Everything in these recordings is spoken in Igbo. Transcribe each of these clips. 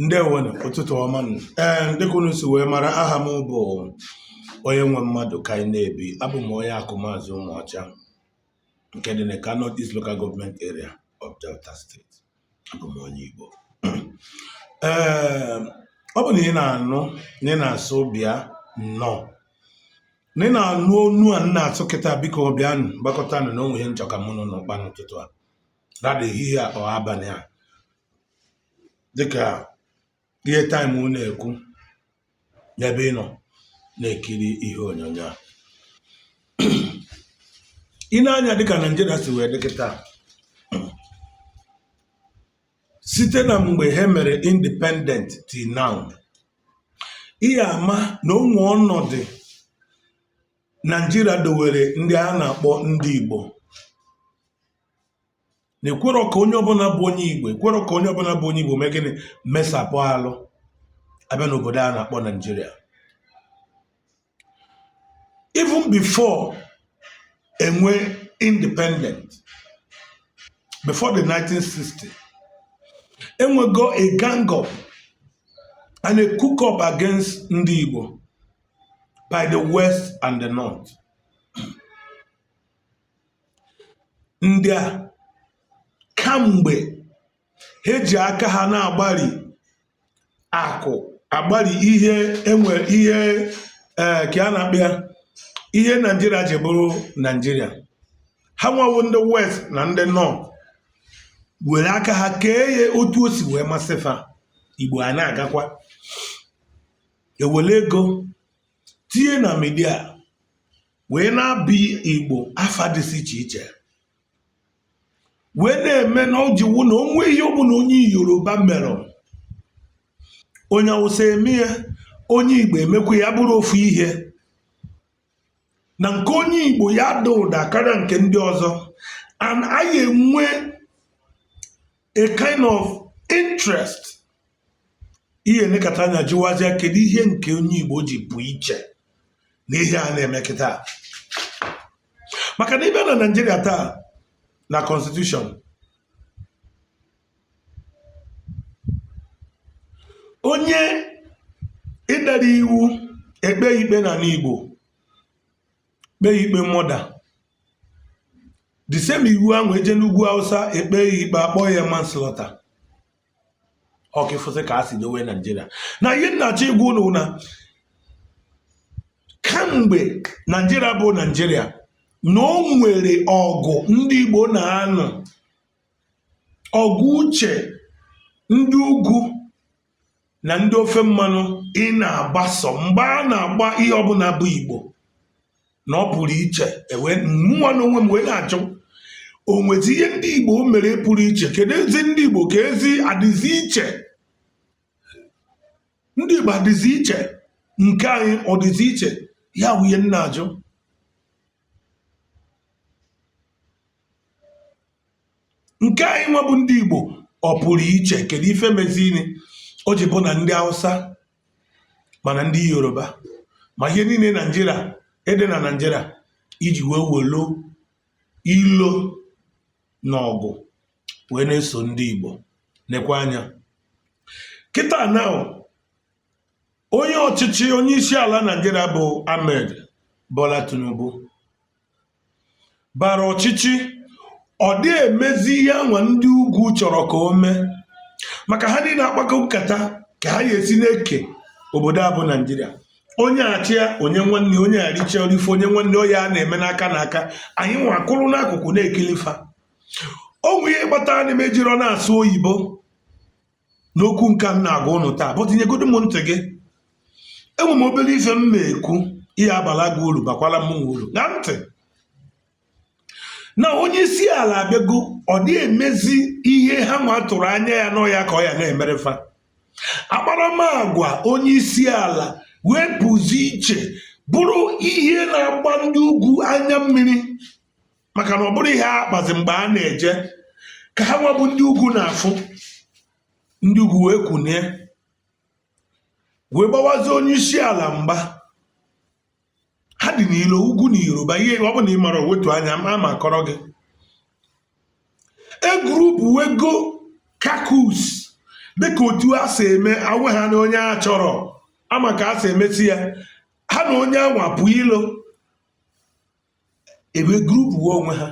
ndewonu ụtụtụ ọma nụ ee dịka unu si wee mara aha m bụ onye nwe mmadụ ka anyị na-ebi abụ m onye Akumazi Umuocha nke dị n'Ika North East Local Government Area of Delta State abụ m onye Igbo ee ọ bụ na ị na-anụ na ị na-asụ bịa nnọọ na ị na-anụ onu a m na-atụ kịtaa biko bịanụ gbakọtanụ na o nwe ihe m chọ ka mụ na unu kpaa n'ụtụtụ a rather ehihie a or abalị a dịka ihe taịm na-ekwu n'ebe ị nọ na-ekiri ihe onyonyo a i nee anya dịka naijiria si wee dị kịtaa site na mgbe ha mere independent till now ị ya-ama na o nwe ọnọdụ naijiria dowere ndị a na-akpọ ndị igbo na ekwerọ ka onye ọbụla bụ onye igbo ekwerọ ka onye ọbụla bụ onye igbo mee gịnị mesapụ arụ a bịa n'obodo a na-akpọ naijiria even before e nwe independent before the 1960 e nwego a gang up and a cook up against ndị igbo by the west and the north ndị a kamgbe ha ji aka ha na-agbari akụ agbari ihe e nwere ihe ee ka a na-akpọ ya ihe naijiria ji bụrụ naijiria ha nwa wụ ndị west na ndị north were aka ha kee ya otu o si wee masị fa igbo a na-agakwa e were ego tinye na midia wee na-aba igbo afa dịsị iche iche wee na-eme na o jiwu na o nwe ihe ọbụla onye yoruba mere onye awụsa eme ya onye igbo emekwa ya bụrụ ofu ihe na nke onye igbo ya-ada ụda karịa nke ndị ọzọ and anyị enwe a kind of interest ị ya-enekata anya jụwazịa kedu ihe nke onye Igbo ji pụ iche n'ihe a na-eme kịtaa maka na ị bịa na Naịjirịa taa na constitution onye dara iwu e kpee ikpe n'anị Igbo kpee ya ikpe murder the same iwu ahụ eje n'ugwu hausa ekpe ya ikpe akpọ ya manslaughter ọ kwa ị fụsị ka a si dowe naijiria na ihe m na-achọ ịgwa ụnụ na kamgbe naijiria bụ naijiria na o nwere ọgụ ndị igbo na-anụ ọgụ uche ndị ugwu na ndị ofe mmanụ ị na-agbaso mgba a na-agba ihe ọbụla bụ igbo na ọ pụrụ iche e wee mụnwa n'onwe m wee na-ajụ o nwezi ihe ndị igbo mere pụrụ iche kedu ezi ndị igbo ka ezi adịzi iche ndị igbo adịzi iche nke anyị ọ dịzi iche ya wụ ihe m na-ajụ Nke anyị nwa bụ ndị Igbo ọ pụrụ iche kedu ife mezini o ji bụ na ndị Hausa ma na ndị Yoruba ma ihe niile Naịjirịa ede na Naịjirịa iji wee welu ilo na ọgụ wee na-eso ndị Igbo nekwa anya kịta na onye ọchịchị onye isi ala Naịjirịa bụ Ahmed Bola Tinubu bara ọchịchị ọ dị emezi ihe ha nwa ndị ugwu chọrọ ka o mee maka ha niile akpakọ nkata ka ha ya-esi na-eke obodo a bụ naijiria onye a chịa o nye nwanne onye a richa o rife o nye nwanne ọ ya a na-eme n'aka na aka anyị nwa kwụrụ n'akụkụ na-ekili fa o nwe ihe kpatara na m ejirọ na-asụ oyibo n'okwu nke a m na-agwa ụnụ taa but nyegodu m ntị gị enwe m obere ife m na-ekwu ihe ya-abala gị uru bakwala mụnwa uru ṅaa ntị na onye isi ala abịago ọ dị emezi ihe ha nwa tụrụ anya ya na ọ ya ka ọ ya na-emere fa akparamagwa onye isi ala wee pụzi iche bụrụ ihe na-agba ndị ugwu anya mmiri maka na ọ bụrọ ihe a kpazi mgbe a na-eje ka ha nwa bụ ndị ugwu na-afụ ndị ugwu wee kunie wee gbawazie onye isi ala mgba ha dị n'ilo ugwu na yoruba ihe ọ bụ na ị marọ wetu anya ma m akọrọ gị e group wee go caucus dịka otu a si eme awe ha na onye a chọrọ ama ka a si emesi ya ha na onye anwa pụ ilo ebe group onwe ha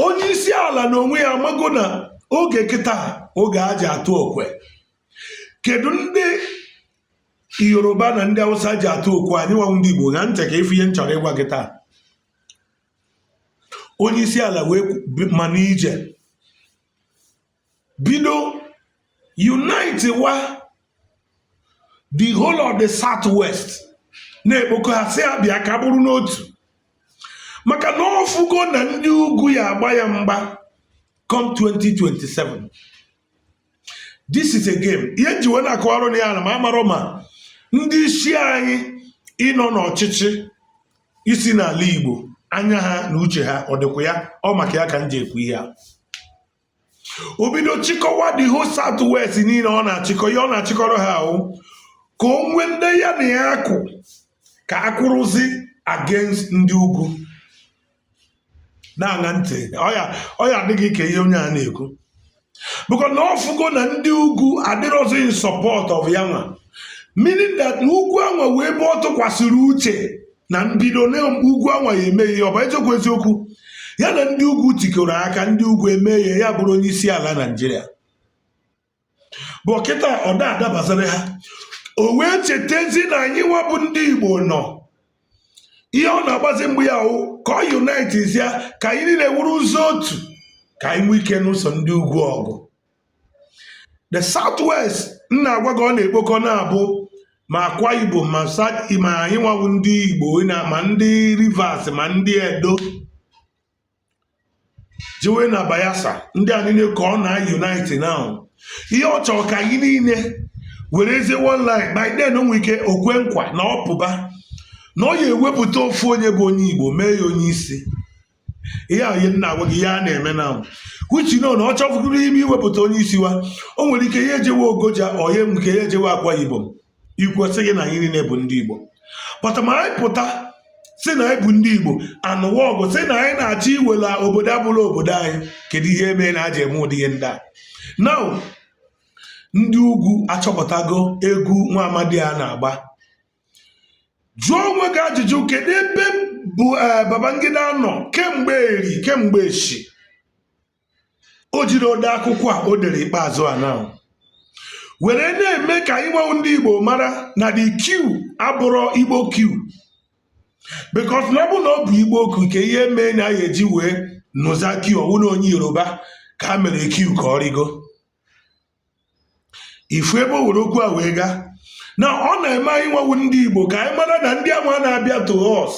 onye isi ala na onwe ya amago na oge kịta oge e ji atụ okwe kedu ndị yoruba na ndị awụsa ji atụ okwe anyị nwa wụ ndị igbo ṅaa ntị ka ị fụ ihe m chọrọ ịgwa gị taa onye isi ala wee ma n'ije bido unite wa the whole of the southwest na-ekpokọ ha sị ha bịa ka bụrụ n'otu maka na ọ fụgo na ndị ugwu ya agba ya mgba come 2027 this is a game ihe m ji wee na-akọwara ụnụ ya na m amarọ ma ndị isi anyị nọ n'ọchịchị isi n'ala Igbo anya ha na uche ha ọ dịkwa ya ọ maka ya ka m ji ekwu ihe a o bido chịkọwa the whole south west niile ọ na-achịkọ ihe ọ na-achịkọrọ ha wụ ka o nwee ndị ya na ya akwụ ka a kwụrụzi against ndị ugwu na-aṅa ntị ọ ya adị gị ka ihe onye a na-ekwu because na ọ fụgo na ndị ugwu adịrọzi in support of ya nwa meaning that ugwu anwa wụ ebe ọ tụkwasịrị uche na mbido na ugwu anwa ya eme ya ọ bụ eziokwu eziokwu ya na ndị ugwu tikọrọ aka ndị ugwu eme ya ya bụrụ onye isi ala naijiria but kịta ọ da adabazara ha o wee chetezi na anyị nwa bụ ndị igbo nọ ihe ọ na-agbazi mbọ ya wụ ka ọ unite ya ka anyị niile wụrụzi otu ka anyị nwee ike nụso ndị ugwu ọgụ the southwest m na-agwa gị ọ na-ekpokọ now bụ ma akwa ibom ma South- ma anyị nwa bụ ndị igbo ma ndị rivers ma ndị edo jewe na bayelsa ndị a niile ka ọ na-unite now ihe ọ chọrọ ka anyị niile werezi one line by then o nwere ike o kwe nkwa na ọ pụba na ọ ya ewepụta ofu onye bụ onye igbo mee ya onye isi ihe a ihe m na-agwa gị ihe a na-eme now which you know na ọ chọfụrụ ime iwepụta onye isi wa o nwere ike ya ejewe ogoja ọ ya enwe ike ya ejewe akwa ibom e kwuo sị gị na anyị niile bụ ndị igbo but ma anyị pụta sị na anyị bụ ndị igbo anụwa ọgụ sị na anyị na-achọ iwela obodo abụrọ obodo anyị kedu ihe mee na e ji eme ụdị ihe ndị a now ndị ugwu achọpụtago egwu nwa amadị a na-agba jụọ onwe gị ajụjụ kedu ebe bụ eh, Babangida nọ kemgbe eri kemgbe echi o jiri dee akwụkwọ a o dere ikpeazụ a now were na-eme ka anyị nwa wụ ndị Igbo mara na the coup abụrọ Igbo coup because na ọ bụ na ọ bụ Igbo coup nke ihe mee na ya e ji wee nụza coup ọ wụ na onye Yoruba ka ha mere coup ka ọ rịgo ị fụ ebe o were okwu a wee gaa na ọ na-eme anyị nwa wụ ndị igbo ka anyị mara na ndị anwa na-abịa to us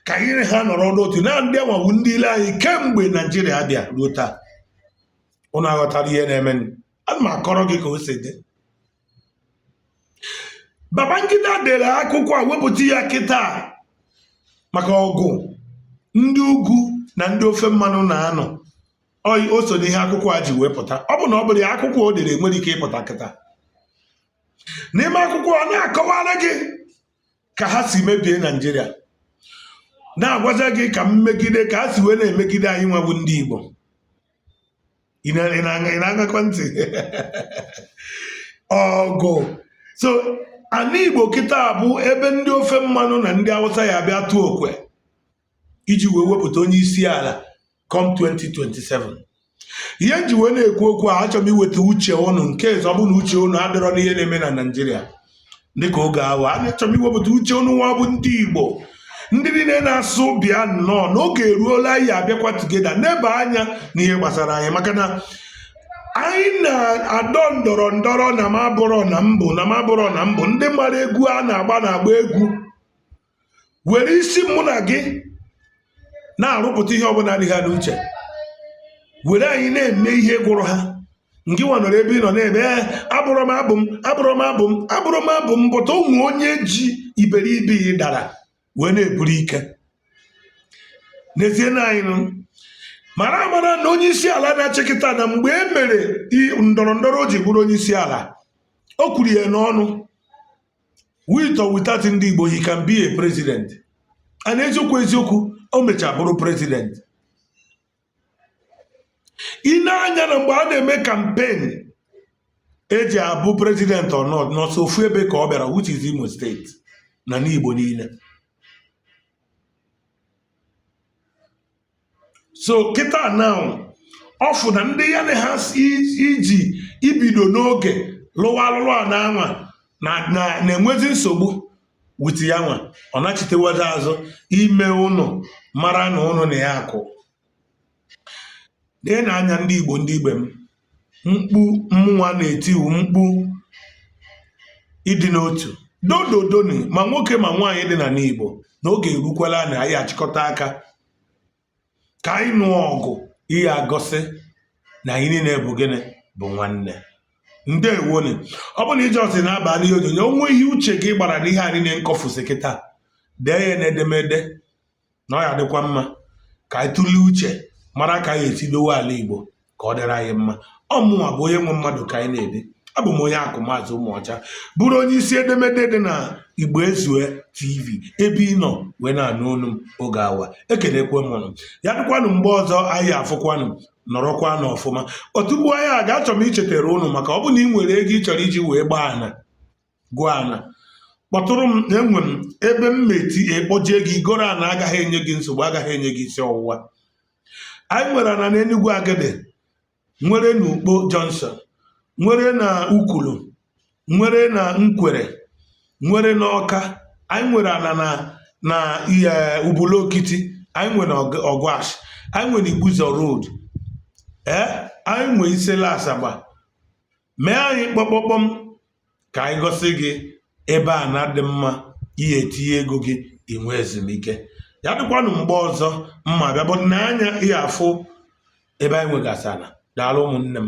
ka anyị na ha nọrọ n'otu na ndị anwa wụ ndị ilo anyị kemgbe naijiria bịa ruo taa ụnụ aghọtara ihe na-eme ana m akọrọ gị ka o si dị Babangida dere akwụkwọ a wepụta ya kịta maka ọgụ ndị ugwu na ndị ofe mmanụ na-anụ oyi o so n'ihe akwụkwọ a ji wee pụta ọ bụ na ọ bụrụ ya akwụkwọ o dere nwere ike ịpụta kịta n'ime akwụkwọ ọ na-akọwara gị ka ha si mebie naijiria na-agwazi gị ka mmegide ka ha si wee na-emegide anyị nwa bụ ndị igbo ị na-aṅakwa ntị ọ bụ sọ ana igbo kịta bụ ebe ndị ofe mmanụ na ndị awụsa ya-abịa tụọ okwe iji wee wepụta onye isi ala come 2027 ihe m ji wee na-ekwu okwu a achọrọ m iweta uche ụnụ in case ọ bụ na uche ụnụ adịrọ n'ihe na-eme na naijiria dịka oge awa a achọrọ m iwepụta uche ụnụ nwa bụ ndị igbo ndị niile na-asụ bịa nnọọ na oge eruola anyị ya-abịakwa together neba anya n'ihe gbasara anyị maka na anyị na-adọ ndọrọ ndọrọ na m abụrọ na m bụ na m abụrọ na m bụ ndị mara egwu a na-agba na-agba egwu were isi mụ na gị na-arụpụta ihe ọbụla dị ha n'uche were anyị na-eme ihe gụrụ ha ngị nwa nọrọ ebe ị nọ na-ebe abụrọ m abụ m abụrọ m abụ m abụrọ m abụ m but o nwe onye ji iberibe ị dara wee na-eburu ike n'ezie na anyị niile mara amara na onye isi ala na-achị kịta na mgbe e mere ndọrọ ndọrọ o ji bụrụ onye isi ala o kwuru ya n'ọnụ with or without ndị Igbo he can be a president and eziokwu eziokwu o mechaa bụrụ president ị nee anya na mgbe a na-eme campaign e ji abụ president or not na sọ ofu ebe ka ọ bịara which is Imo State n'ana Igbo niile so kịta now ọ fụ na ndị ya na ha ji bido n'oge lụwa alụlụ ana nwa na-enwezi nsogbu with ya nwa ọ nachitewazi azụ ime ụnụ mara na ụnụ na ya kwụ neenụ anya ndị igbo ndị ibe m mkpu mmụnwa na-eti wụ mkpu ịdị n'otu doo doo dooni ma nwoke ma nwaanyị dị n'ana Igbo na oge erukwala na anyị achịkọta aka ka anyị nụọ ọgụ ya-egosi na anyị niile bụ gịnị bụ nwanne ndewoni ọ bụrụ na ị just na-aba n'ihe onyonyo o nwee ihe uche gị gwara n'ihe a niile m kọfụsị kịta dee ya n'edemede na ọ ya-adịkwa mma ka anyị tụlee uche mara ka anyị ya-esi dowe ala Igbo ka ọ dịrị anyị mma ọ mụnwa bụ onye nwe mmadụ ka anyị na-ede abụ m onye akụ maazị ụmụọcha bụrụ onye isi edemede dị na igbo ezue tv ebe ị nọ wee na-anụ olu m oge awa ekelekwe m ụnụ ya dịkwanụ mgbe ọzọ anyị ya-afụkwanụ nọrọkwanụ ọfụma tupu anyị agaa achọ m ichetere ụnụ maka ọ bụ na ị nwere ego ị chọrọ iji wee gbaa ana gụọ ana kpọtụrụ m na enwe m ebe m meti ekpọjie gị i goro ana agaghị enye gị nsogbu agaghị enye gị isi ọwụwa anyị nwere ana na Enugu Agidi nwere na Ukpo Junction nwere na Ukwulu nwere na Nkwere nwere na Ọka anyị nwere ana na na eh, Ubulu Okiti anyị nwere Ọgwash anyị nwere Igbuzo Road ee eh, anyị nwee Isele Azagba mee anyị kpọkpọkpọm ka anyị gosi gị ebe ana dị mma ị ya-etinye ego gị i nwee ezumike ya dịkwanụ mgbe ọzọ m ma-abịa bụ n'anya ị ya-afụ ebe anyị nwegasị ana daalụ ụmụnne m